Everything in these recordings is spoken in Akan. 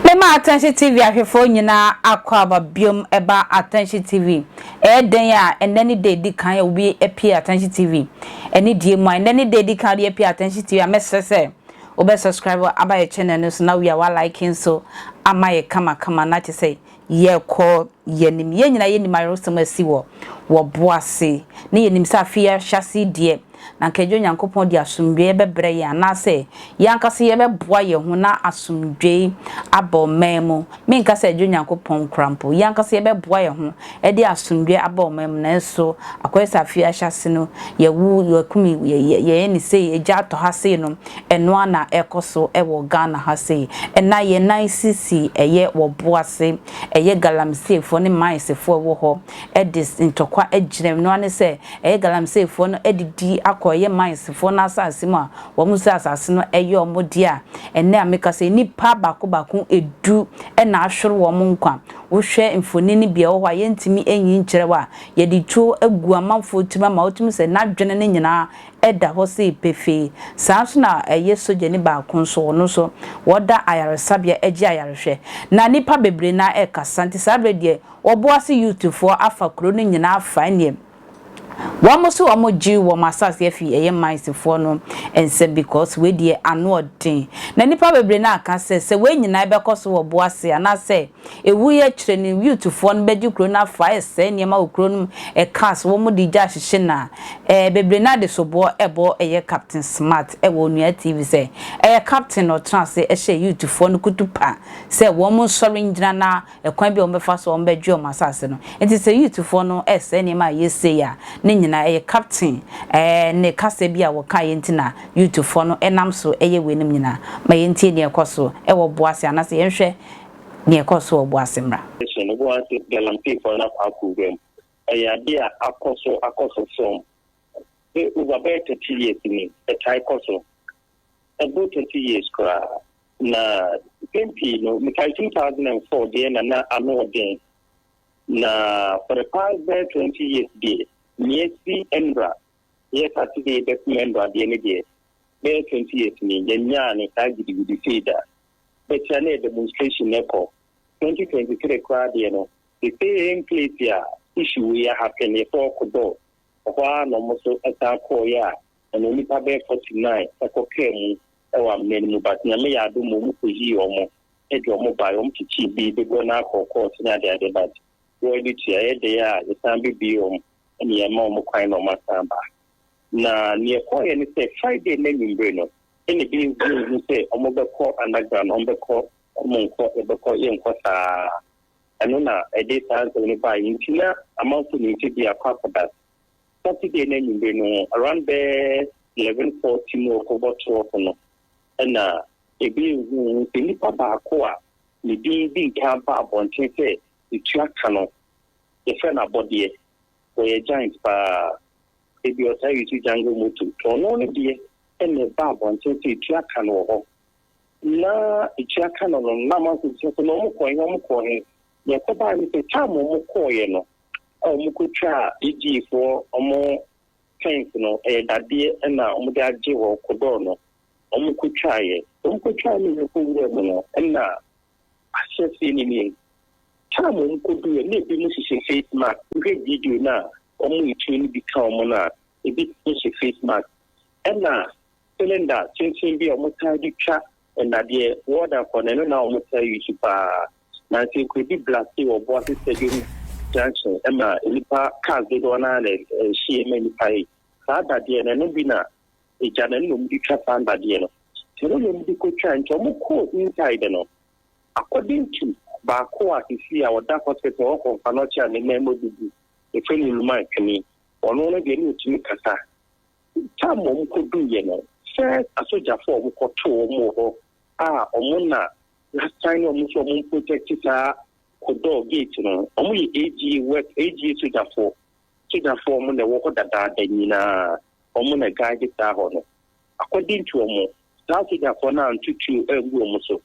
Mema Atɛnhye TV ahwɛfoɔ nyinaa akɔ aba biom ɛba Atɛnhye TV. Ɛyɛ dɛn a ɛnnɛ ne da edi kan a obi apue Atɛnhye TV. Anidie mu a ɛnnɛ ne da edi kan a obi apue Atɛnhye TV a mɛsrɛ sɛ Wobɛ subscribe aba yɛ channel no so na wia wa like nso ama yɛ kama kama na kyesɛ yɛkɔ yanim. Yɛn nyinaa yɛnim ayeresɛm asi wɔ wɔ bo ase ne yɛnim sɛ afei ahyase deɛ na nka ɛgye Onyankopɔn de asomdwoeɛ bɛbrɛ yɛn anaasɛ yɛn ankasa yɛbɛboa yɛn ho na asomdwoeɛ aba ɔman mu. Menka sɛ ɛdwo Nyankopɔn koraa mpo. Yɛn ankasa yɛbɛboa yɛn ho de asomdwoeɛ aba wɔn amu, nanso akɔyɛ sɛ afe yi ahyɛase no, yɛawu, yɛakum, yɛyɛ ɛne sei, egya atɔ ha sei no, ɛno ara na ɛrekɔ so wɔ Ghana ha sei. Ɛnna yɛn nan sisi ɛyɛ wɔ bo ase, ɛyɛ Galamiseefoɔ ne Mayesefoɔ a ɛwɔ hɔ de ntɔkwa agyina mu. Ɛno ara ne sɛ, ɛyɛ Galamiseefoɔ no adidi akɔ ɛyɛ Mayesefoɔ no asase mu a wɔdze asaase no yɛ wɔn dea a, ɛnnɛ a mekasa yi, nnipa baako baako du na ahwer wɔn nkwa. Wohwɛ mfonini bi a ɔwɔ hɔ a yɛnntumi nnyi nnkyerɛw a, yɛdze tuo gu amamfoɔ tsir mu ama otumi sɛ n'adwene no nyinaa da hɔ sei pefee. Saa nso na ɛyɛ sogyani baako nso, ɔno nso wɔda ayaresabea gye ayarehwɛ. Na nnipa bebree no ara rekasa, nti saa berɛ deɛ wɔboa se youthfoɔ afa kuro no nyinaa afa, ɛnneɛ, Wɔn so wɔn gye wɔn asase afi ɛyɛ mines foɔ no nsam because wei deɛ ano ɔden na nipa bebree no aka sɛ sɛ wei nyinaa ɛbɛkɔ so wɔ boa se anaa sɛ ɛwuiɛ akyire no youth foɔ no bɛgye kuro no afa ɛsɛe nneɛma wɔ kuro no mu ɛcars wɔn de gya ahyehye na ɛɛ bebree no ara de soboɔ ɛbɔ ɛyɛ captain smart ɛwɔ onua TV sɛ ɛyɛ captain na ɔtena ase ɛhyɛ youth foɔ no kutupa sɛ wɔn nsɔre ngyina na ɛkwan bi a wɔbɛfa so a wɔbɛgye wɔn asase no. Enti sɛ Yutfoɔ no resɛe nneɛma a ɛyɛ sei a, ne nyinaa ɛyɛ Kapten ɛɛ ne kasa bi a wɔkaeɛ nti na Yutfoɔ no nam so yɛ weinom nyinaa. Ma yɛntie nea ɛkɔ so wɔ Boase anaasɛ yɛnhwɛ nea ɛkɔɔ so wɔ Boase mmra. Hyɛ no boa sɛ Galamseefoɔ no akɔ akowura mu. Ɛyɛ adeɛ a akɔ so akɔ so from over bɛyɛ thirty years ni. Ɛtae kɔ so. ɛboro thirty years koraa, na mpɛn pii no mekae two thousand and four deɛ na na ano ɔden, na for the past bɛyɛ twenty years deɛ nea si mmra yɛ sase deɛ bɛkum mmra deɛ ne deɛ bɛyɛ twenty years ni yɛnyaa no saa gidigidi sei da bɛkyerɛ na yɛ demonstration no kɔ twenty twenty three koraa deɛ no the same place a issue yɛ happen yɛfɔ ɔkodɔ ɔhɔ a na ɔmo so ɛsan kɔɔ yɛ a Ɛnna nnipa bɛyɛ forty-nine kɔkaa mu wɔ amena no mu, but Nyame yɛɛ adom ma wɔkɔyii wɔn de wɔn baeɛ, wɔkyekyee bi bebɔ no akɔɔkɔɔ sene adeade, but wɔn ani tua, ɛyɛ dɛn a yɛsan bɛbue wɔn ne yɛma wɔn kwan na wɔasan ba. Na nea ɛkɔeɛ ne sɛ Friday no anwummere no ɛnna bi nhu sɛ wɔbɛkɔ underground, wɔbɛkɔ wɔn nkɔ, yɛbɛkɔ yɛnkɔ saa, ɛno na ɛde saa nsɛm no baeɛ nti na amanfoɔ nim sɛ bi akɔ akɔda Saturday no anwummere no, around bɛyɛ eleven forty mu rekɔbɔ twelve no, ɛna ebi ehuhu sɛ nipa baako a ne din di nkan ba abɔnten sɛ etua ka no, yɛfrɛ no abɔdeɛ, wɔyɛ giant paa, ebi ɔtaa yi so jungle moto, ɔno ne deɛ ɛna ɛba abɔnten sɛ etua ka no wɔ hɔ. Na etua ka no no, na amanfo bisa sɛ na wɔn kɔɔ he, wɔn kɔɔ he, deɛ ɛkɔbaa ne sɛ time wɔn kɔɔeɛ no, a wɔkɔtwaa Egyptfoɔ wɔn tents no, ɛyɛ dadeɛ na wɔde agye hɔ, kodɔɔ no, wɔkɔtwaeɛ. Wɔkɔtwaa no wɔ kɔ wura mu no, na ahyɛseɛ no nie, time a wɔkɔduruiɛ na ebinom hyehyɛ face mask, wohwɛ video no a, wɔn a ɛtuo no bi ka wɔn no a, ebi hyɛ face mask, ɛna cylinder tenten bi a wɔtaa de twa nnadeɛ, wɔda kɔ no, ɛno na wɔtaa use paa. na nsenkoredi blasee wɔ Boase Stadium junction ma nnipa cars dodoɔ no ara na ɛhyee ma nnipa yi. Saa dadeɛ no, ɛno bi na agya no ɛno na wɔn de twa saa dadeɛ no. Sɛ ɛno na wɔn de kɔtwa nti wɔn kɔɔ inside no. According to baako a sisi a ɔda hospital wɔ Komfanoche a ne nan mu abubu, efrɛ no Luma Twene, ɔno no deɛ na ɔtumi kasa. Tam wɔn kɔduiɛ no, first asogyafo a wɔkɔtoo wɔn wɔ hɔ a wɔn na Y'asan ne ɔmo sɛ ɔmo mprotɛkte saa Kodor gate no. Ɔmo yɛ AGA work, AGA sogyafoɔ. Sogyafoɔ ɔmo na ɛwɔ hɔ dadaada nyinaa. Ɔmo na guide saa hɔ no. According to ɔmo, saa sogyafoɔ no anto tuo angu ɔmo so.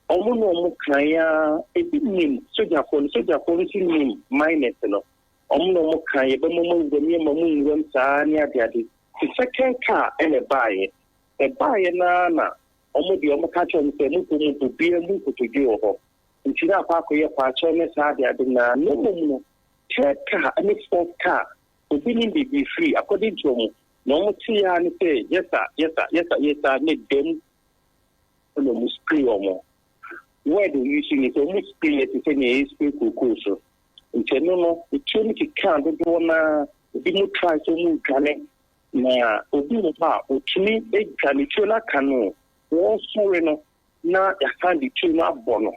Ɔmo ne ɔmo kan ara, ebi nim sogyafoɔ no, sogyafoɔ no nso nim miners no. Ɔmo ne ɔmo kan, yɛbɛma mo awuram, yɛmma mo nwuram saa ne adeade. Te second car ɛna ɛbaeɛ. Ɛbaeɛ no ara na Wɔn deɛ wɔka kyerɛ wɔn sɛ, Monkɔ mu mpo, biara mmu nkotodwe wɔ hɔ. Nti na akɔ akɔyɛ paakyɛw ne saa ade ade nyinaa. Na mmom no, third car ne fourth car, obi nim baabi firi, according to wɔn, nea wɔn tee ara ne sɛ, Yes sir, yes sir, yes sir, yes sir, ne dɛm na wɔn spray wɔn. Word a use ne sɛ, wɔn spray yɛ te sɛ nea yɛ spray kookoo so. Nti ɛno no, etuo no kekaa dodoɔ no ara, ebinom try sɛ wɔn redwane, Na obi wɔ hɔ a, otumi dwa ne tuo no aka no o, wɔresɔre no na yɛasan de tuo no abɔ no.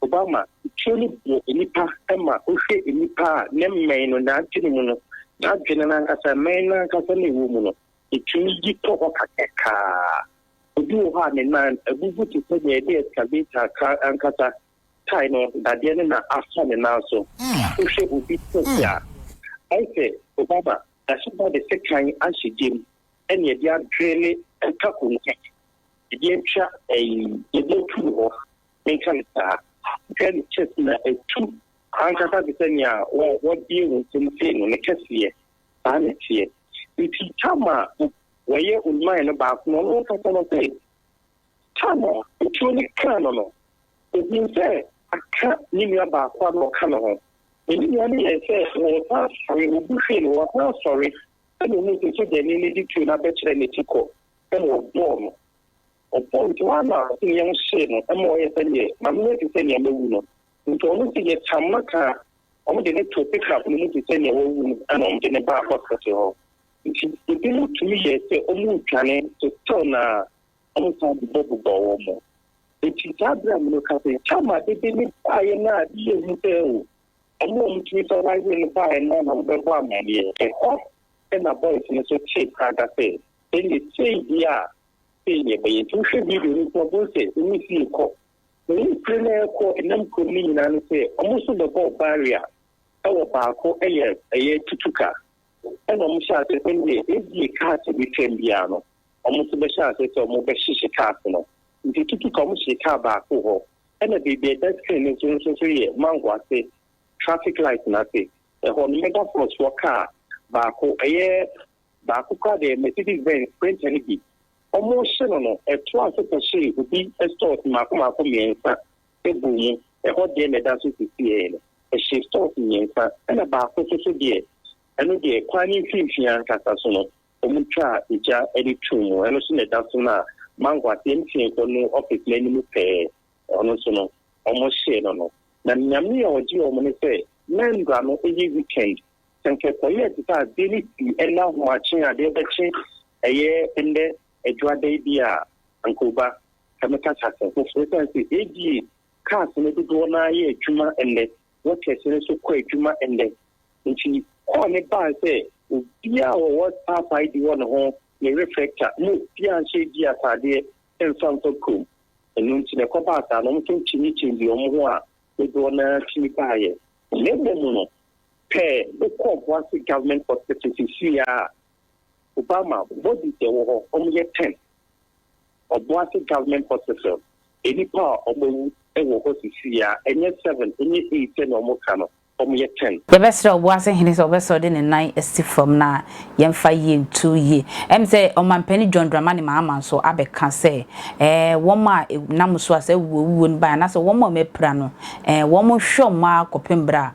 Obama, tuo no bɔ nnipa ma wohwɛ nnipa a ne mmɛn no nante ne mu no, n'adwene no ankasa, mmɛn no ankasa na ɛwɔ mu no, etumi yi kɔ hɔ kakrakaa. Obi wɔ hɔ a, ne nan abubu te sɛ nea ɛde excavator ka ankasa tae no, dadeɛ no na afa ne nan so. Wohwɛ obi sɛsi a, ayɛ sɛ Obama Ɛso ba de sekan ahyɛ gya mu ne ɛde adwene ne ɛka konka ɛde atwa ɛyi ɛde atu wɔ hɔ menka no saa hwɛ ne chest na ɛtu ankasa te sɛ nea wɔ wɔbie wɔn nsam sei no ne kɛseɛ saa ne teɛ nti tama wɔyɛ onman no baako no ɔno nkasa no sɛ tama otuo ne kaa no no Ohui sɛ aka ne nua baako a na ɔka ne ho. Na ne nua no yɛe sɛ ɔresan asɔre, obu hwee no, ɔresan asɔre, ɛnna ohuu sɛ sogyani no de tuo no abɛkyerɛ n'akyi kɔ, ɛnna ɔbɔɔ no. Ɔbɔɔ no tiwaa na ɔde yam hyee no ma ɔyɛɛ sɛdeɛ n'ano ayɛ te sɛ nea mawu no. Enti ɔno nso yɛtam no kaa wɔde no too pickup no mu te sɛ nea wawu no, ɛnna wɔde no baa hospital hɔ. Enti ebinom tumi yɛe sɛ wɔredwane so still na wɔsan bobɔbobɔɔ wɔn. Enti saa bere a mereka sɛ, Tamar de bɛ no baeɛ no a, ne yɛ hu sɛ o, wɔn a wɔtumi fa wɔn ayere no baeɛ no ara na wɔbɛbɔ amanneɛ. Ɛhɔ na boys no nso tee prada sɛ, Ɛnde sei deɛ a, sei na ɛbɛyɛ. Enti wohwɛ video no nso a, wobɛhu sɛ wɔn si rekɔ. Wɔn mpire no a ɛrekɔ ɛnam kurom no nyinaa ne sɛ, wɔn nso bɛbɔɔ barrier wɔ baako yɛ ɛyɛ tutuka, ɛna wɔhyɛɛ aseɛ sɛ, Ɛnde ebia cars a ɛbɛtwam biara no, wɔn nso bɛhyɛ aseɛ sɛ wɔbɛhyehye cars no nti tutu ka wɔhyee car baako hɔ ɛna baabi a ɛda screen no so no nso so yɛ mango ase traffic light no ase ɛhɔ no mega force foɔ car baako ɛyɛ baako koraa deɛ mercedes benz sprinter no bi wɔhyɛ no no ɛto ase kɔhyee obi stores mmaako mmaako mmiɛnsa ɛbɔ mu ɛhɔ deɛ na ɛda so sisiɛ no ɛhyɛ stores mmiɛnsa ɛna baako nso so deɛ ɛno deɛ kwan ne mfimfini ankasa so no wɔtwaa gya de too mu. Ɛno nso na ɛda so no a mango ase mfeefo no office no anim pɛɛ ɔno nso no wɔhyee no no. Na nyame a ɔgyee wɔn ne sɛ na mmra no yɛ weekend sɛ nka ɛkɔyɛɛ te sɛ adeɛ no sii ɛnɛ ahomakye a adeɛ bɛkye ɛyɛ ɛnɛ adwuada yi bi a anka oba ka mɛka sase foforɔ sane sɛ ɛdie cars no dodoɔ no ara yɛ adwuma ɛnɛ wɔtɛse no so kɔ adwuma nnɛ. Nti kɔɔ ne baa sɛ obiaa a ɔwɔ Papa ID wɔ ne ho, ne reflector, mma obiaa nhyɛ ID ataadeɛ mmfa mmfa kurom. Ɛno nti na ɛkɔbaa saa no, wɔn nso nkyinnikyinni wɔn ho a dodoɔ no ara tumi baeɛ. Na mmom no, pɛ wokɔ Obuasi Government Hospital seesei ara a, Obama bodies ɛwɔ hɔ, wɔn yɛ ten. Ɔboase government hospital, nnipa a wɔn awu ɛwɔ hɔ sisi a, ɛnyɛ seven, ɛnyɛ eight sɛnea wɔn ka no, wɔn yɛ ten. Yɛbɛsrɛ Ɔboase hene sɛ ɔbɛsɔre de ne nan asi fam na yɛmfa yie nto yie. Ɛm sɛ Ɔmanpanin John Dramani Mahama nso abɛka sɛ ɛɛ wɔn a ɛnam so a saa awuo awuo no baeɛ anaasɛ wɔn a wɔapira no ɛɛ wɔn nhwɛ wɔn ara kɔpem berɛ a